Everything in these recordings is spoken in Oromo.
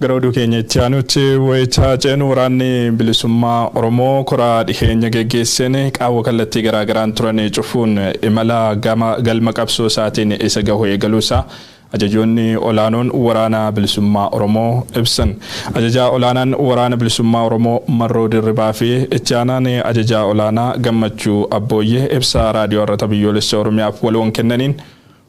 Gara oduu keenya itti aanutti wayita ceenu waraanni bilisummaa Oromoo koraa dhiheenya geggeesseen qaawwa kallattii garaagaraan turan cufuun imala galma qabsoo isaatiin isa gahu eegaluusaa Ajajoonni olaanoon Waraana Bilisummaa Oromoo ibsan. Ajajaa Olaanaan Waraana Bilisummaa Oromoo Marroo Dirribaa fi Itti Aanaan Ajajaa Olaanaa Gammachuu Abbooyyee ibsa Raadiyoo Arrata Biyyoolessa Oromiyaaf waloon kennaniin,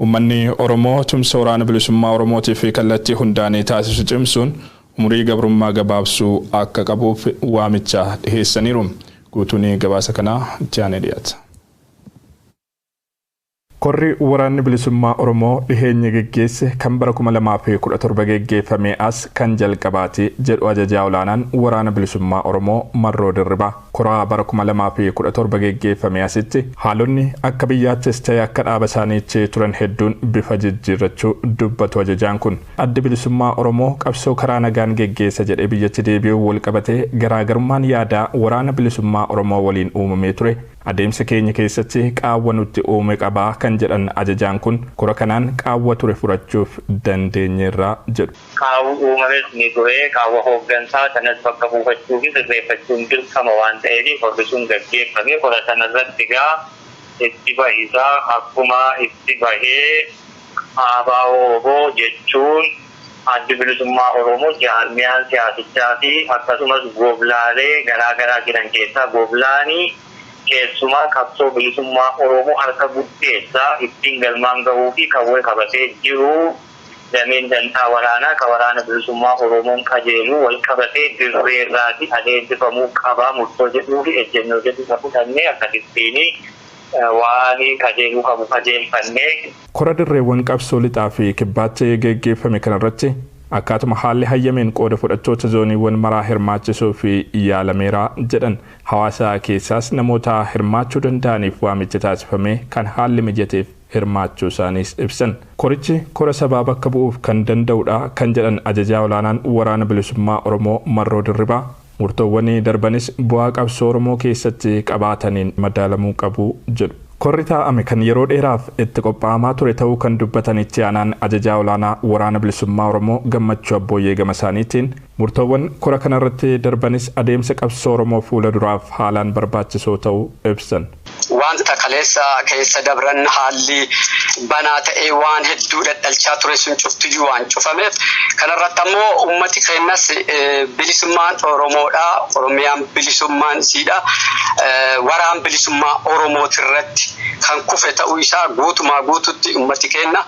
Ummanni Oromoo tumsa Waraana Bilisummaa Oromootiif kallattii hundaan taasisu cimsuun umurii gabrummaa gabaabsuu akka qabuuf waamicha dhiheessaniiru. Guutuun gabaasa kanaa itti aanee dhiyaata. Korri Waraanni Bilisummaa Oromoo dhiheenya geggeesse kan bara 2017 geggeeffamee as kan jalqabaati jedhu Ajajaa Olaanaan Waraana Bilisummaa Oromoo Marroo Dirribaa. Kora bara 2017 geggeeffamee asitti haalonni akka biyyaattis ta'e akka dhaaba isaaniitti turan hedduun bifa jijjiirrachuu dubbatu ajajaan kun. Addi Bilisummaa Oromoo qabsoo karaa nagaan geggeessa jedhee biyyatti deebi'uun walqabatee garaagarummaan yaadaa Waraana Bilisummaa Oromoo waliin uumamee ture Adeemsa keenya keessatti qaawwa nutti uume qaba kan jedhan ajajaan kun, kora kanaan qaawwa ture furachuuf dandeenyeerra jedhu. Qaawwi uumames ni ture. Qaawwa hooggansaa sanas bakka buufachuufi sirreeffachuun dirqama waan ta'eef korri sun gaggeeffame. Kora sanarratti egaa itti bahisaa akkuma itti bahee ABO-wbo jechuun Addi Bilisummaa Oromoo jaarmiyaan siyaasichaa fi akkasumas goblaalee garaa garaa jiran keessaa goblaani keessumaa qabsoo bilisummaa Oromoo harka guddeessaa ittiin galmaan gahuu fi qawwee qabatee jiru dameen dantaa waraanaa ka Waraana Bilisummaa Oromoon qajeelu walqabatee dirreerraati adeemsifamuu qaba murtoo jedhuu fi ejjennoo jedhu ka fudhannee akkasittiini. waan qajeeluu qabu qajeelfanne. Kora dirreewwan qabsoo lixaa fi kibbaatti geggeeffame kana irratti akkaatuma haalli hayyameen qooda fudhattoota zooniiwwan maraa hirmaachisuuf yaalameera jedhan. Hawaasa keessaas namoota hirmaachuu danda'aniif waamichi taasifamee kan haalli mijateef hirmaachuu isaaniis ibsan. Korichi kora sabaa bakka bu'uuf kan danda'u dha kan jedhan Ajajaa Olaanaan Waraana Bilisummaa Oromoo Marroo Dirribaa, Murtoowwan darbanis bu'aa qabsoo Oromoo keessatti qabaataniin madaalamuu qabu jedhu. Korri taa'ame kan yeroo dheeraaf itti qophaa'amaa ture ta'uu kan dubbatan Itti Aanaan Ajajaa Olaanaa Waraana Bilisummaa Oromoo Gammachuu Abbooyyee gamasaaniitiin, murtoowwan kora kanarratti darbanis adeemsa qabsoo Oromoo fuula duraaf haalaan barbaachisoo ta'uu ibsan. Wanta kaleessa keessa dabran haalli banaa ta'ee waan hedduu dhadhalchaa ture sun cuftiyyuu waan cufameef kana irratti ammoo ummati keennas bilisummaan Oromoodha, Oromiyaan bilisummaan isiidha, waraan bilisummaa Oromooti irratti kan kufe ta'uu isaa guutumaa guututti ummati keenna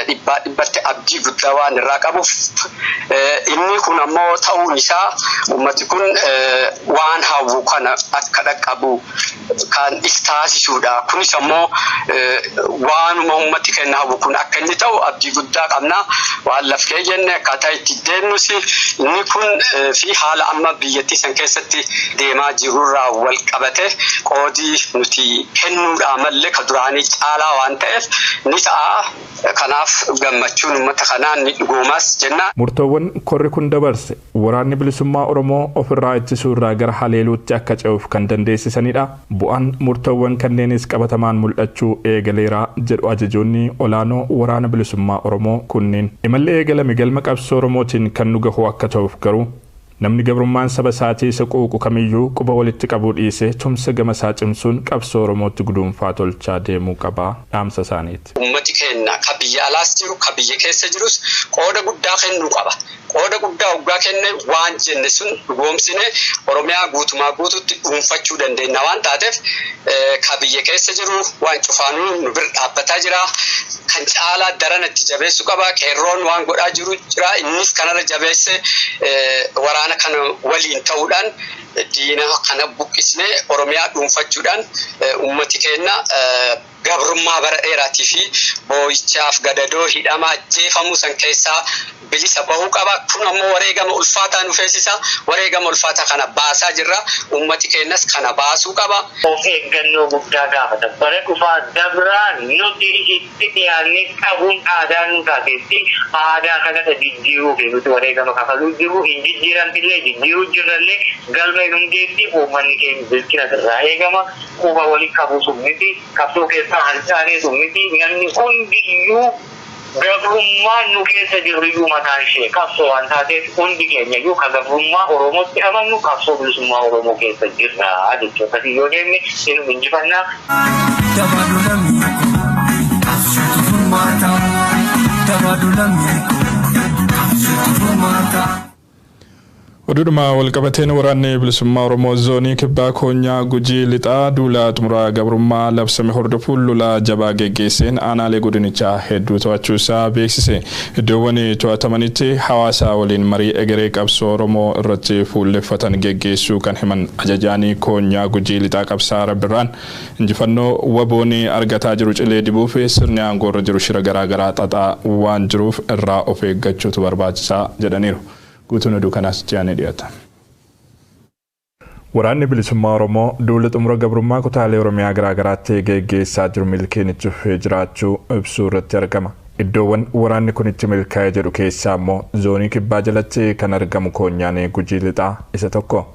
dhibbaa dhibbatti abdii guddaa waan irraa qabuuf inni kun ammoo ta'uun isaa ummati kun waan hawwu kana akka dhaqqabu kan is taasisuudha. Kunis ammoo waanuma ummatti kenna hawwu kun akka inni ta'u abdii guddaa qabna. Waan laf kee jenne akkaataa itti deemnus inni kun fi haala amma biyyattii san keessatti deemaa jirurraa wal qabate qoodii nuti kennuudhaa malle ka duraanii caalaa waan ta'eef ni ta'a. Kanaaf gammachuun ummata kanaa ni dhugoomaas jenna. Murtoowwan korri kun dabarse Waraanni Bilisummaa Oromoo ofirraa ittisuu irraa gara haleeluutti akka ce'uuf kan dandeessisanidha. Bu'aan murtoowwan kanneenis qabatamaan mul'achuu eegaleera jedhu ajajoonni olaanoo Waraana Bilisummaa Oromoo kunniin. Imalli eegalame galma qabsoo Oromootiin kan nu gahu akka ta'uuf garuu, namni gabrummaan saba isaatii isa quuqu kamiyyuu quba walitti qabuu dhiisee tumsa gama isaa cimsuun qabsoo Oromootti guduunfaa tolchaa deemuu qaba dhaamsa isaaniiti. Ummati keenna ka biyya alaas jiru, ka biyya keessa jirus qooda guddaa kennuu qaba. Qooda guddaa oggaa kenne waan jenne sun dhugoomsine Oromiyaa guutumaa guututti dhuunfachuu dandeenna waan taateef ka biyya keessa jiru waan cufaanuu nu bir dhaabbataa jira. Kan caalaa darana itti jabeessu qaba. Qeerroon waan godhaa jiru jira. Innis kanarra jabeesse waraana kana waliin ta'uudhaan diina kana buqqisnee Oromiyaa dhuunfachuudhaan ummati keenna gabrummaa bara dheeraatii fi boo'ichaaf gadadoo hidhama ajjeefamuu san keessaa bilisa bahuu qaba. Kun ammoo wareegama ulfaataa nu feesisa. Wareegama ulfaataa kana baasaa jirra. Ummati keenyas kana baasuu qaba. Of eeggannoo guddaa gaafata. Bara dhufaa dabraa nuti itti dhiyaannee qabuun aadaa nuu taateetti. Aadaa kana dha jijjiiruufi nuti wareegama kafaluu jirru. Hin jijjiiramtillee, jijjiiruu jirrallee. Galma hin hungeetti. Ummanni keenya bilchina sirraa eegama. quba wali qabu sun miti, qabsoo keessaa harcaanee sun miti, namni hundiyyuu gabrummaan nu keessa jirruyyuu mataan ishee qabsoo waan taateef hundi keenyayyuu ka gabrummaa Oromootti amannu qabsoo bilisummaa Oromoo keessa jirra jechuu akkasiin yoo deemne inuma injifanna. Jabaadhu lammii koo qabsootu furmaata. Jabaadhu lammii koo qabsootu furmaata. Oduudhuma walqabateen Waraanni Bilisummaa Oromoo Zoonii Kibbaa Koonyaa Gujii Lixaa duula xumura gabrummaa labsame hordofuun lola jabaa geggeesseen aanaalee godinichaa hedduu to'achuu isaa beeksise. Iddoowwan to'atamanitti hawaasa waliin marii egeree qabsoo Oromoo irratti fuulleffatan geggeessuu kan himan Ajajaan Koonyaa Gujii Lixaa Qabsaa'aa Rabbirraan, Injifannoo wbo'n argataa jiru cilee dibuuf sirni aangoorra jiru shira garaa garaa xaxaa waan jiruuf irraa of eeggachuutu barbaachisa jedhaniiru. Guutuun oduu kanaas itti aanee dhiyata. Waraanni Bilisummaa Oromoo duula xumura gabrummaa kutaalee Oromiyaa garaa garaatti geggeessaa jiru milkiin itti fufee jiraachuu ibsuu irratti argama. Iddoowwan waraanni kun itti milkaa'e jedhu keessaa ammoo Zoonii Kibbaa jalatti kan argamu koonyaan Gujii Lixaa isa tokko.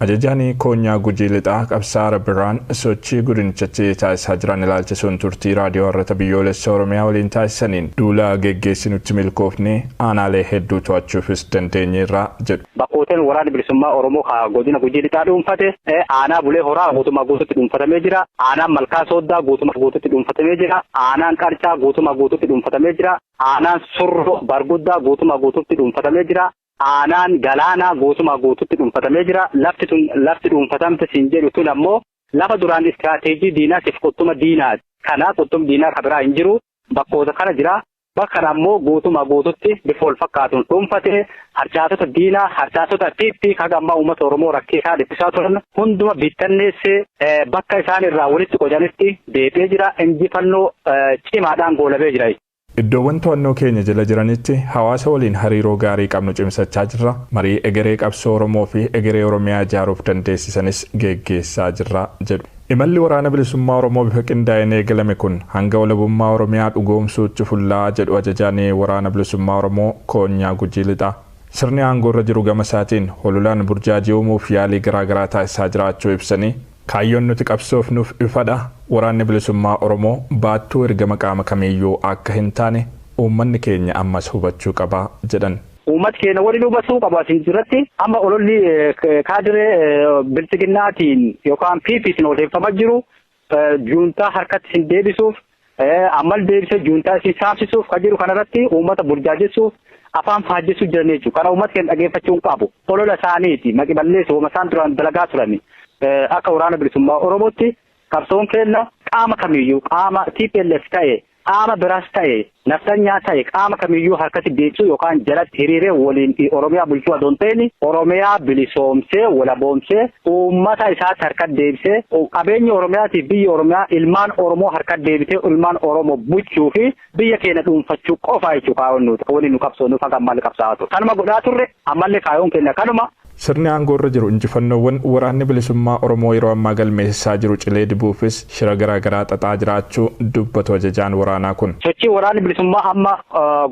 Ajajaan Koonyaa Gujii Lixaa Qabsaa'aa Birhaan sochii Godinichatti taasisaa jiran ilaalchisuun turtii Raadiyoo Harrata Biyyoolessa Oromiyaa waliin taasisaniin, duula geggeessinutti milkoofnee aanaalee hedduu to'achuufis dandeenyeerra jedhu. Bakkooteen Waraanni Bilisummaa Oromoo ka Godina Gujii Lixaa dhuunfate, Aanaa Bulee Horaa guutumaa guututti dhuunfatamee jira, Aanaan Malkaa Sooddaa guutumaa guututti dhuunfatamee jira, Aanaan Qarcaa guutumaa guututti dhuunfatamee jira, Aanaan Surroo Barguddaa guutumaa guututti dhuunfatamee jira, Aanaan Galaanaa guutumaa guutuutti dhuunfatamee jira. Lafti tun lafti dhuunfatamte siin jedhu tun ammoo lafa duraan istiraateejii diinaatiif quttuma diinaati. Kana quttum diinaa ka biraa hin jiru. Bakkoota kana jira. Bakka kana ammoo guutumaa guutuutti bifa wal fakkaatuun dhuunfate harcaatota diinaa, harcaatota PP ka haga ammaa uummata Oromoo rakkisaa dhiphisaa turan hunduma bittanneessee bakka isaan irraa walitti qocanitti deebi'ee jira. Injifannoo cimaadhaan goolabee jira jechuudha. Iddoowwan to'annoo keenya jala jiranitti hawaasa waliin hariiroo gaarii qabnu cimsachaa jirra, marii egeree qabsoo Oromoo fi egeree Oromiyaa ijaaruuf dandeessisanis geggeessaa jirra jedhu. Imalli Waraana Bilisummaa Oromoo bifa qindaa'een eegalame kun hanga walabummaa Oromiyaa dhugoomsuutti fullaa'a jedhu Ajajaan Waraana Bilisummaa Oromoo Koonyaa Gujii Lixaa. Sirni aangoorra jiru gama isaatiin hololaan burjaajii uumuuf yaalii garaagaraa taasisaa jiraachuu ibsanii, Kaayyoon nuti qabsoofnuuf ifadha, Waraanni Bilisummaa Oromoo baattuu ergama qaama kamiiyyuu akka hin taane uummanni keenya ammas hubachuu qaba jedhan. Uummati keenya waliin hubachuu qabu asiin duratti amma ololli kaadiree Bilxiginnaatiin yookaan PPtiin odeeffama jiru juuntaa harkatti isin deebisuuf ammal deebisee juuntaa isii saamsisuuf kan jiru kanarratti uummata burjaajessuuf afaan faajjessuu jiran jechuudha. Kana uummata keenya dhageeffachuu hin qabu. Olola isaaniiti maqi balleessu wama isaan duraan dalagaa turani. Akka waraana bilisummaa Oromootti qabsoon keenya qaama kamiyyuu qaama TPLF ta'e qaama biraas ta'e naftanyaa ta'e qaama kamiyyuu harkatti deebisuu yookaan jalatti hiriiree waliin Oromiyaa bulchuu adoon ta'in Oromiyaa bilisoomsee walaboomsee Uummata isaatti harkatti deebisee qabeenyi Oromiyaatiif biyyi Oromiyaa ilmaan Oromoo harkatti deebitee ilmaan Oromo buchuu fi biyya keenya dhuunfachuu qofaa jechuu kaayoon nuti kan waliin nu qabsoonu faga ammalle qabsaa'aa ture. Kanuma godhaa turre ammalle kaayoon keenya kanuma. Sirni aangoo irra jiru injifannoowwan Waraanni Bilisummaa Oromoo yeroo ammaa galmeessisaa jiru cilee dibuufis shira garaa garaa xaxaa jiraachuu dubbatu ajajaan waraanaa kun. Sochii Waraanni Bilisummaa amma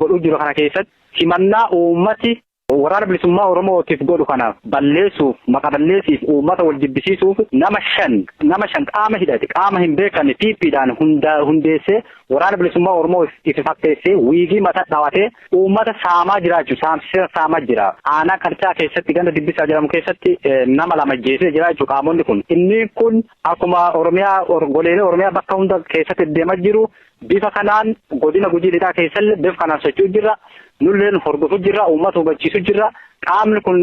godhuu jiru kana keessatti simannaa uummati. Waraana Bilisummaa Oromoo tif godhu kana balleessuuf, maqa balleessiif, uummata wal jibbisiisuuf nama shan, nama shan qaama hidhate, qaama hin beekamne PP dhaan hundaa, hundeessee Waraana Bilisummaa Oromoo ifi fakkeessee wiigii mata dhawatee uummata saamaa jiraachu, saamsisee saama jira. Aanaa Karcaa keessatti ganda Dibbisaa jedhamu keessatti nama lama ajjeesee jira jechuudha qaamonni kun. Inni kun akkuma Oromiyaa, goleelee Oromiyaa bakka hunda keessatti deema jiru Bifa kanaan godina Gujii Lixaa keessalle bif kanaan socho'u jirra. Nulleen hordofu jirra, uummata hubachiisu jirra. Qaamni kun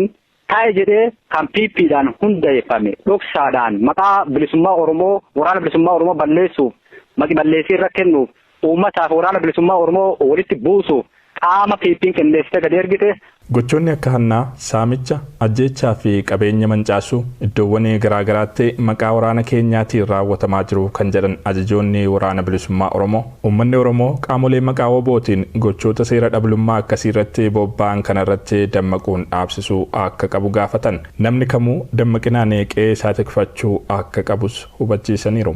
taa'e jedhee kan PPdhaan hundaeffame dhoksaadhaan maqaa bilisummaa Oromoo, waraana bilisummaa Oromoo balleessuuf, maqi balleessii irra kennuuf, uummataaf waraana bilisummaa Oromoo walitti buusuuf qaama PP'n qindeessitee gadi ergite. Gochoonni akka hannaa, saamicha, ajjeechaa fi qabeenya mancaasuu iddoowwan garaa garaatti maqaa waraana keenyaatiin raawwatamaa jiru kan jedhan ajajoonni Waraana Bilisummaa Oromoo, uummanni Oromoo qaamolee maqaa WBOtiin gochoota seera dhablummaa akkasii irratti bobba'an kana irratti dammaquun dhaabsisuu akka qabu gaafatan. Namni kamuu dammaqinaan qe'ee isaa tikfachuu akka qabus hubachiisaniiru.